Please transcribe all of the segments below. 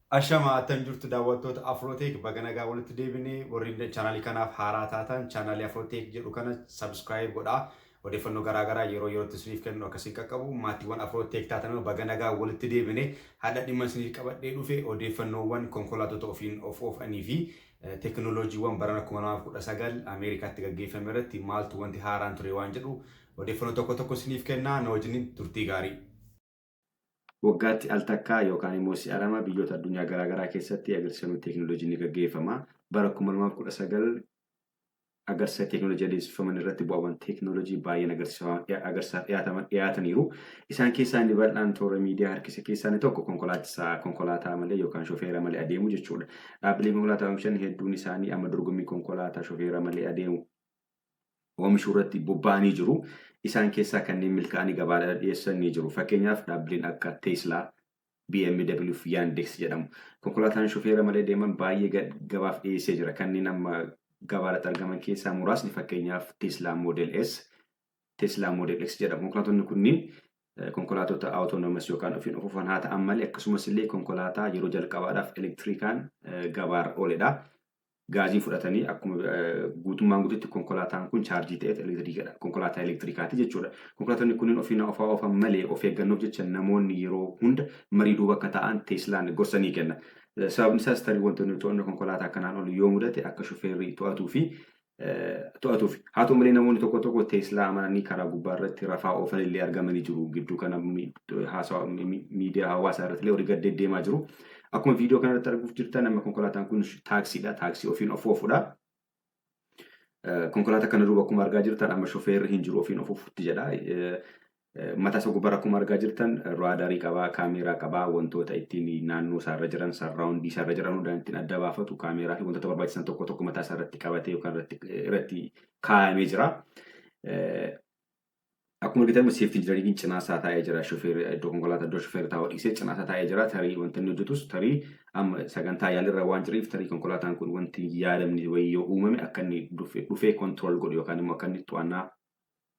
Ashama attam jirtu daawwattoota Afrootech baga nagaan walitti deebine warri chaanaalii kanaaf haaraa taatan chaanaalii Afrootech jedhu kana subscribe godhaa odeeffannoo garaa garaa yeroo yerootti isiniif kennu akka isin qaqqabu maatiiwwan Afrootech taatan baga nagaan walitti deebine hadha dhimma isiniif qabadhee dhufe odeeffannoowwan konkolaattota ofiin of oofanii fi teknooloojiiwwan barana 2019 Ameerikaatti gaggeeffame irratti maaltu wanti haaraan ture waan jedhu odeeffannoo tokko tokko isiniif kennaa na wajjin turtii gaarii. Waggaatti al takkaa yookaan immoo si'a lama biyyoota addunyaa garaa garaa keessatti agarsiifamni teeknooloojii ni gaggeeffama. Bara 2019 agarsiisa teeknooloojii adeemsifaman irratti bu'aawwan teeknooloojii baay'een agarsiisaaf dhiyaataman dhiyaataniiru. Isaan keessaa inni bal'aan toora miidiyaa harkisa keessaa inni tokko konkolaachisaa konkolaataa malee yookaan shofeera malee adeemu jechuudha. Dhaabbileen konkolaataa oomishan hedduun isaanii amma dorgommii konkolaataa shofeera malee adeemu oomishuu irratti bobba'anii jiru. Isaan keessaa kanneen milkaa'anii gabaadhaaf dhiyeessan ni jiru. Fakkeenyaaf dhaabbileen akka Tesla, BMW fi Yandex jedhamu. Konkolaataan shufeera malee deeman baay'ee ga- gabaaf dhiyeessee jira. Kanneen amma gabaarratti argaman keessaa muraasni fakkeenyaaf Tesla Model S, Tesla Model X jedhamu. Konkolaattonni kunniin eh, konkolaattota autonomous yookaan ofiin of oofan haa ta'an malee akkasumas illee konkolaataa yeroo jalqabaadhaaf elektirikaan eh, gabaarra ooledha. gaazii fudhatanii akkuma guutummaan guututti konkolaataan kun chaarjii ta'eet elektiriikadha. Konkolaataa elektiriikaati jechuudha. Konkolaattonni kunneen ofiin ofaa oofan malee of eeggannoof jecha namoonni yeroo hunda marii duuba akka taa'an Teeslaan gorsa ni kenna. Sababni isaas tarii wantoonni to'annoo konkolaataa kanaan ol yoo mudate akka shufeerri to'atuu fi to'atuuf. Haa ta'u malee namoonni tokko tokko Teeslaa amananii karaa gubbaa irratti rafaa oofan illee argamanii jiru. Gidduu kana haasawa miidiyaa hawaasaa irratti illee horii gad deddeemaa jiru. Akkuma viidiyoo kanarratti arguuf jirtan amma konkolaataan kun taaksiidha. Taaksii ofiin of oofudha. Konkolaataa kana duuba akkuma argaa jirtan amma shofeerri hin jiru ofiin of ofutti jedha. Mataa isaa gubbaarra akkuma argaa jirtan raadarii qabaa, kaameeraa qabaa, wantoota ittiin naannoo isaarra jiran, sarraawundii isaarra jiran hundaan ittiin adda baafatu, kaameeraa fi wantoota barbaachisan tokko tokko mataa isaa irratti qabatee yookaan irratti kaayamee jira. Akkuma argitan amma safety engineering cinaa isaa taa'ee jira shofeerri iddoo konkolaataa iddoo shofeerri taa'u dhiisee cinaa isaa taa'ee jira tarii wanti inni hojjetus tarii amma sagantaa yaalirra waan jireef tarii konkolaataan kun wanti hin yaadamne wayii yoo uumame akka inni dhufe- dhufee control godhu yookaan immoo akka inni to'annaa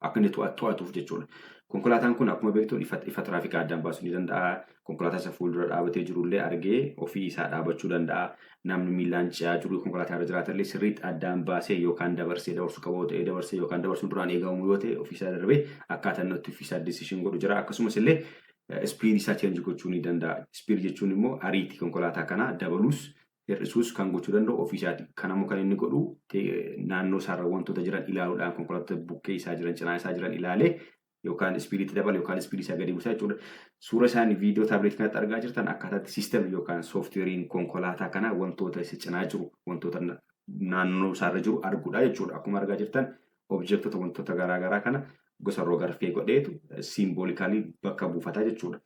akka inni to'a- to'atuuf jechuudha. Konkolaataan kun akkuma beektu ifa ifa tiraafikaa addaan baasuu ni danda'a. konkolaataa isa fuuldura dhaabatee jirullee argee ofii isaa dhaabachuu danda'a. Namni miillaan ce'aa jiru konkolaataa irra jiraatallee sirriitti addaan baasee yookaan dabarsee dabarsuu qaba yoo ta'e dabarsee yookaan dabarsuun duraan eegamu yoo ta'e ofii isaa darbee akkaataa inni itti ofii isaa decision godhu jira. Akkasumas illee speed isaa change gochuu ni danda'a. Speed jechuun immoo ariitii konkolaataa kanaa dabaluus hir'isuus kan gochuu danda'u ofii isaati. Kan ammoo kan inni godhu naannoo isaarra wantoota jiran ilaaluudhaan konkolaattota bukkee isaa jiran cinaa isaa jiran ilaalee yookaan ispiidii itti dabala yookaan ispiidii isaa gadi buusa jechuudha. Suura isaanii viidiyoo taabileetii kanatti argaa jirtan akkaataa itti siistemii yookaan sooftiweeriin konkolaataa kanaa wantoota isa cinaa jiru wantoota na- naannoo isaarra jiru arguudha jechuudha. Akkuma argaa jirtan objektota wantoota garaa garaa kana gosa rogarfee godheetu siimboolikalii bakka buufata jechuudha.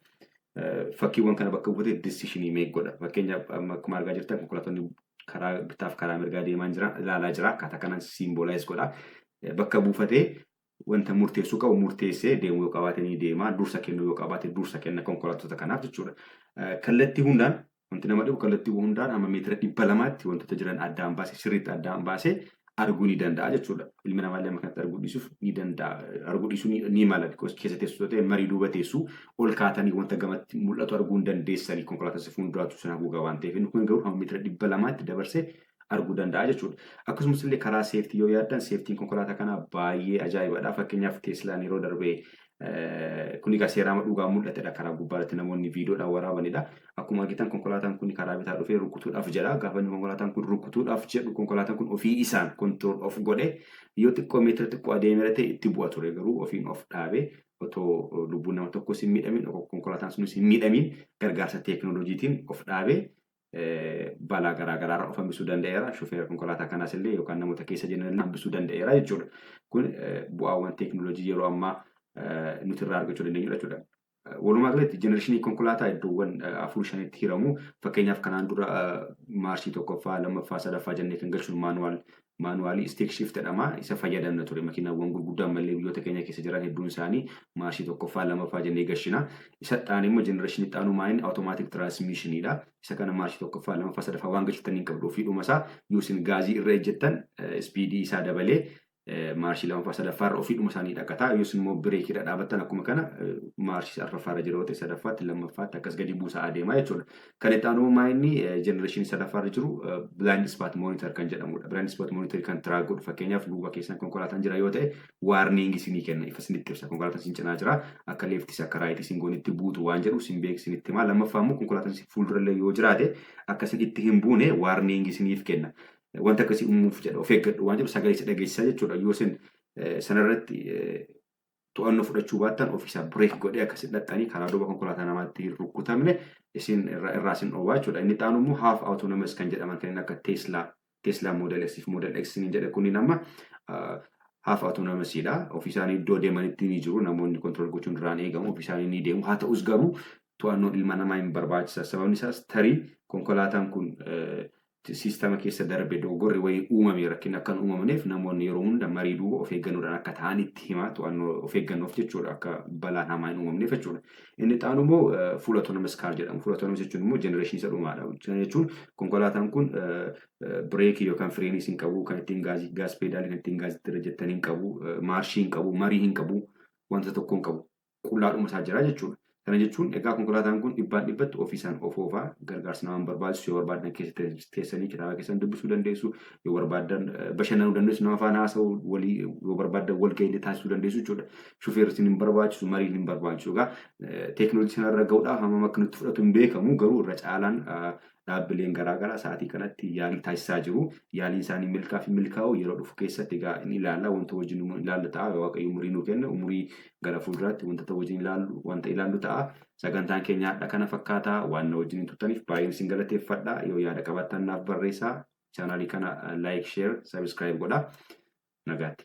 Eh, Fakkiiwwan kana bakka buufate disishinii meeq godha. Fakkeenyaaf amma akkuma argaa jirtan konkolaattonni karaa bitaaf karaa mirgaa deemaa jiran ilaalaa jira. Akkaataa kanaan siimboolaayiz godha. Eh, Bakka buufatee wanta murteessuu qabu murteessee deemuu yoo qabaate ni deema, dursa kennuu yoo qabaate dursa kenna konkolaattota kanaaf jechuudha. Kallattii hundaan wanti nama dhibu kallattii hundaan amma meetira dhibba lamaatti wantoota jiran addaan baasee sirriitti addaan baasee arguu ni danda'a jechuudha. Ilmi namaa illee amma kanatti arguu dhiisuuf ni danda'a. Arguu dhiisuu ni, ni mala. Because keessa teessuu ta'e marii duuba teessuu ol kaatanii wanta gamatti mul'atu arguu hin dandeessanii konkolaattota fuulduraatu isin haguugaa waan ta'eef. Inni kun garuu hamma meetira dhibba lamaatti dabarsee arguu danda'a jechuudha. Akkasumas illee karaa seeftii yoo yaaddan seeftiin konkolaataa kanaa baay'ee ajaa'ibadha. Fakkeenyaaf Teeslaan yeroo darbee kun egaa seeraama dhugaa mul'atedha karaa gubbaa irratti namoonni viidiyoodhaan waraabanidha. Akkuma argitan konkolaataan kun karaa bitaa dhufee rukutuudhaaf jedha. Gaafa inni konkolaataan kun rukutuudhaaf jedhu konkolaataan kun ofii isaan kontirool of godhe yoo xiqqoo meetira xiqqoo adeemera ta'e itti bu'a ture garuu ofiin of dhaabe otoo lubbuun nama tokkos hin miidhamin konkolaataan sunis hin miidhamin gargaarsa teekinooloojiitiin of dhaabe balaa garaa garaa irraa of hambisuu danda'eera. Shufeera konkolaataa kanaas illee yookaan namoota keessa jiran illee hambisuu danda'eera jechuudha. Kun bu'aawwan teekinooloojii yeroo ammaa nuti irraa argachuu dandeenyudha jechuudha. Walumaa galatti jenereeshinii konkolaataa iddoowwan afur shanitti hiramu. Fakkeenyaaf kanaan dura maarshii tokkoffaa, lammaffaa, sadaffaa jennee kan galchuun maanuwaal Maanuwaalii Stick Shift jedhama. Isa fayyadamna ture. Makiinawwan gurguddaa ammallee biyyoota keenya keessa jiran hedduun isaanii maarshii tokkoffaa, lamaffaa jennee gashina. Isa itti aanee immoo jenereeshinii itti aanu maayin awutomaatik tiraansmiishinii dha. Isa kana maarshii tokkoffaa, lamaffaa, sadaffaa waan gashittan hin qabdu ofii dhuma isaa yoo isin gaazii irra ejjettan ispiidii isaa dabalee maarshii lamaffaa sadaffaa irra ofii dhuma isaanii dhaqata. Yoo isin immoo bireekii irra dhaabattan akkuma kana maarshii arfaffaa irra jira yoo ta'e sadaffaatti lammaffaatti akkas gadi buusaa adeema jechuudha. Kan itti aanuu maa inni jenereeshinii sadaffaa irra jiru blind spot monitor kan jedhamudha. Blind spot monitor kan track godhu fakkeenyaaf duuba keessan konkolaataan jira yoo ta'e warning isinii kenna ifa isinitti ibsa konkolaataan isin cinaa jira akka leeftis akka raayitis isin goonitti buutu waan jedhu isin beeku isinitti himaa lammaffaa immoo konkolaataan isin fuuldurallee yoo jiraate akka isin itti hin buune warning isiniif kenna wanta akkasii uumuuf jedha of eeggadhu waan jedhu sagalee isa dhageessisa jechuudha yoo isin sanarratti to'annoo fudhachuu baattan ofiisaan break godhee akka isin dhaxxanii karaa duuba konkolaataa namaatti hin rukkutamne isin irra- irraa isin dhoowwaa jechuudha. Inni xaanu immoo half autonomous kan jedhaman kanneen akka Tesla, Tesla Model S fi Model X niin jedhe kunniin amma ah, half autonomous dha. Ofiisaanii iddoo deemanitti ni jiru. Namoonni control gochuun irraan eegamu. Ofiisaanii ni deemu. Haa ta'us garuu to'annoon ilma namaa hin barbaachisa. Sababni isaas tarii konkolaataan kun eh, Siistama keessa darbe dogoggorri wayii uumame rakkinni akka hin uumamneef namoonni yeroo hunda marii duuba of eeggannoodhaan akka taa'an itti hima. To'annoo of eeggannoof jechuudha akka balaan hamaa hin uumamneef jechuudha. Inni itti aanu immoo full autonomous car jedhama. Full autonomous jechuun immoo generation isa dhumaadha. Kana jechuun konkolaataan kun bireekii yookaan fireeniis hin qabu, kan ittiin gaazii gaas peedaalii kan ittiin gaazii itti irra jettan hin qabu, maarshii hin qabu, marii hin qabu, wanta tokko hin qabu. qullaadhuma isaa jira jechuudha. Kana jechuun egaa konkolaataan kun dhibbaan dhibbatti ofiisaan of oofaa gargaarsa namaan barbaachisu yoo barbaaddan keessa teessanii kitaaba keessan dubbisuu dandeessu yoo barbaaddan bashannanuu dandeessu nama faana haasa'uu walii yoo barbaaddan wal ga'ii taasisuu dandeessu jechuudha. Shufeerri isin hin barbaachisu mariin hin barbaachisu egaa teekinooloojii sanarra ga'uudhaaf hammam akka nutti fudhatu hin beekamu garuu irra caalaan dhaabbileen garaa garaa sa'aatii kanatti yaalii taasisaa jiru. Yaaliin isaanii milkaa fi milkaa'uu yeroo dhufu keessatti egaa ni ilaalla. Wanta wajjin nu ilaalla ta'a. Waaqayyo umurii nu kenna. Umurii gara fuulduraatti wanta ta'u wajjin ilaallu wanta ilaallu ta'a. Sagantaan keenya har'a kana fakkaata. Waan na wajjin turtaniif baay'een isin galateeffadha. Yoo yaada qabaattan naaf barreessaa. Chaanaalii kana like, share, subscribe godha. Nagaatti.